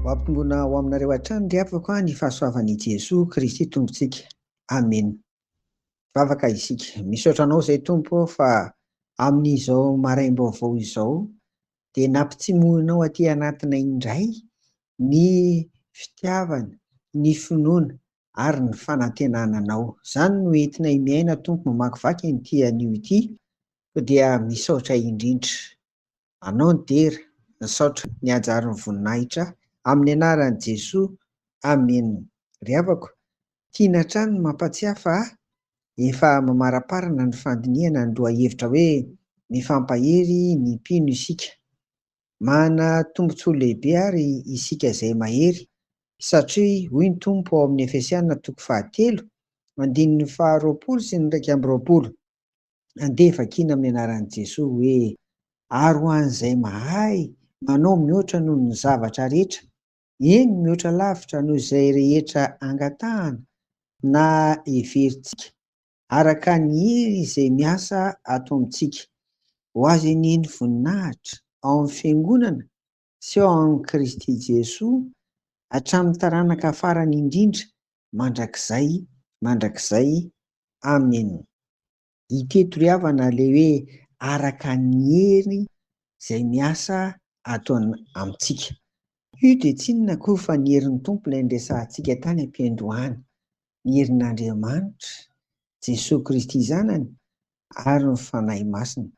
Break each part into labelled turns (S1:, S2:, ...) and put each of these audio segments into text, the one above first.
S1: Ho ampitombona ho aminareo hatrany ry havako ny fahasoavan' i Jesoa Kristy Tompontsika. Amena. Vavaka isika. Misaotra Anao izay Tompo ô fa amin' izao maraim-baovao izao dia nampitsimohinao aty anatinay indray ny fitiavana, ny finoana ary ny fanantenana Anao. Izany no entinay miaina Tompo mamakivaky an'ity anio ity Koa dia misaotra indrindra anao nidera, misaotra niajary ny voninahitra amin'ny anaran'i Jesoa Amen. Ry havako, tiana hatrany ny mampatsiahy fa efa mamaraparana ny fandinihana ny lohahevitra hoe Mifampahery ny mpino isika. Manana tombontsoa lehibe àry isika izay mahery, satria hoy ny Tompo ao amin'ny Efesiana toko fahatelo, andininy faharoapolo sy ny iraika amby roapolo, Andeha vakiana amin'ny anaran'i Jesoa hoe, Ary ho an'izay mahay manao mihoatra noho ny zavatra rehetra, eny mihoatra lavitra noho izay rehetra angatahana na heverintsika, araka ny hery izay miasa ato amintsika, ho azy anie ny voninahitra ao amin'ny Fiangonana Ceux en Kristy Jesoa, hatramin'ny taranaka farany indrindra, mandrakizay mandrakizay. Amen. Ity tory havana le hoe araka ny hery zay miasa ato amintsika. Io dia tsinona akory fa ny herin'ny Tompo ilay niresahantsika tany am-piandohana. Ny herin'Andriamanitra, Jesoa Kristy Zanany ary ny Fanahy Masina.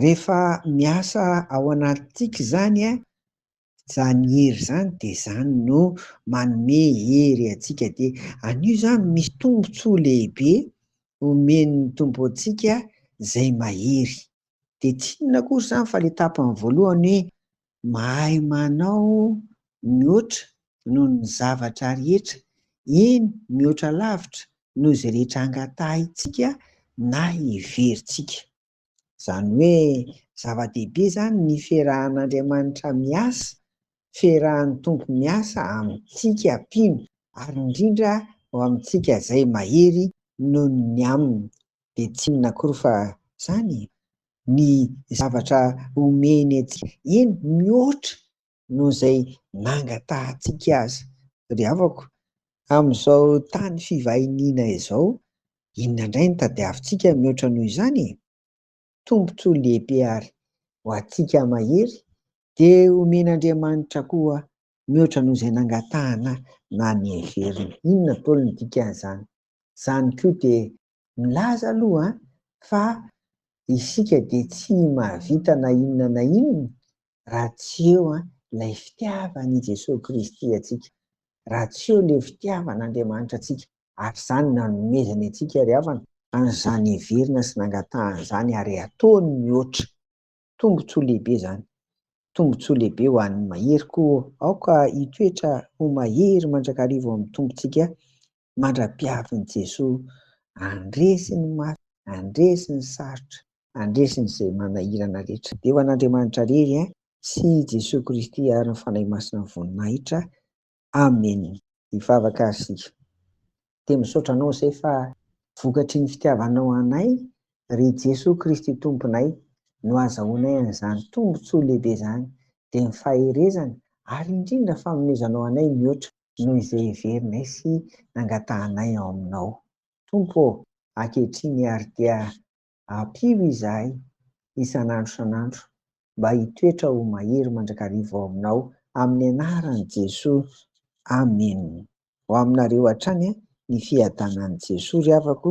S1: Rehefa miasa ao anatintsika izany a, izany hery izany dia izany no manome hery antsika dia an'io izany misy tombontsoa lehibe omen'ny Tompo antsika izay mahery. Dia tsy inona akory izany fa ilay tapany voalohany hoe mahay manao mihoatra noho ny zavatra rehetra, eny mihoatra lavitra noho izay rehetra angatahintsika na heverintsika. Izany hoe zava-dehibe izany ny ferahan'Andriamanitra miasa, ferahan'ny Tompo miasa amintsika mpino ary indrindra ho amintsika izay mahery noho ny aminy. Dia tsy inona akory fa izany ny zavatra omeny antsika, eny mihoatra noho izay nangatahantsika azy. Ry havako, amin'izao tany fivahiniana izao, inona indray no tadiavintsika mihoatra noho izany e? Tombontsoa lehibe àry ho antsika mahery, dia homen'Andriamanitra koa mihoatra noho izay nangatahana na niheverina. Inona daholo no dikan'izany? Izany koa dia Milaza aloha fa isika dia tsy mahavita na inona na inona raha tsy eo ilay fitiavan'i Jesoa Kristy antsika, raha tsy eo ilay fitiavan'Andriamanitra antsika, ary izany nanomezany antsika ry havana, ary izany heverina sy nangatahany izany ary ataony mihoatra, tombontsoa lehibe izany, tombontsoa lehibe ho an'ny mahery, koa aoka hitoetra ho mahery mandrakariva ao amin'ny Tompontsika mandra-piavin'i Jesoa, handresy ny maty, handresy ny sarotra, handresy ny izay manahirana rehetra. Dia ho an'Andriamanitra rery eh, sy i Jesoa Kristy ary ny Fanahy Masina ny voninahitra. Amen. Hivavaka ary isika. Dia misaotra Anao izay fa vokatry ny fitiavanao anay, ry Jesoa Kristy Tomponay, no azahoanay an'izany tombontsoa lehibe izany, dia ny faherezana ary indrindra fanomezanao anay mihoatra noho izay heverinay sy nangatahanay ao Aminao. Tompo ô, ankehitriny àry dia ampio izahay isan'andro isan'andro mba hitoetra ho mahery mandrakariva ao Aminao, amin'ny anaran'i Jesoa, amena. Ho aminareo hatrany ny fiadanan'i Jesoa ry havako,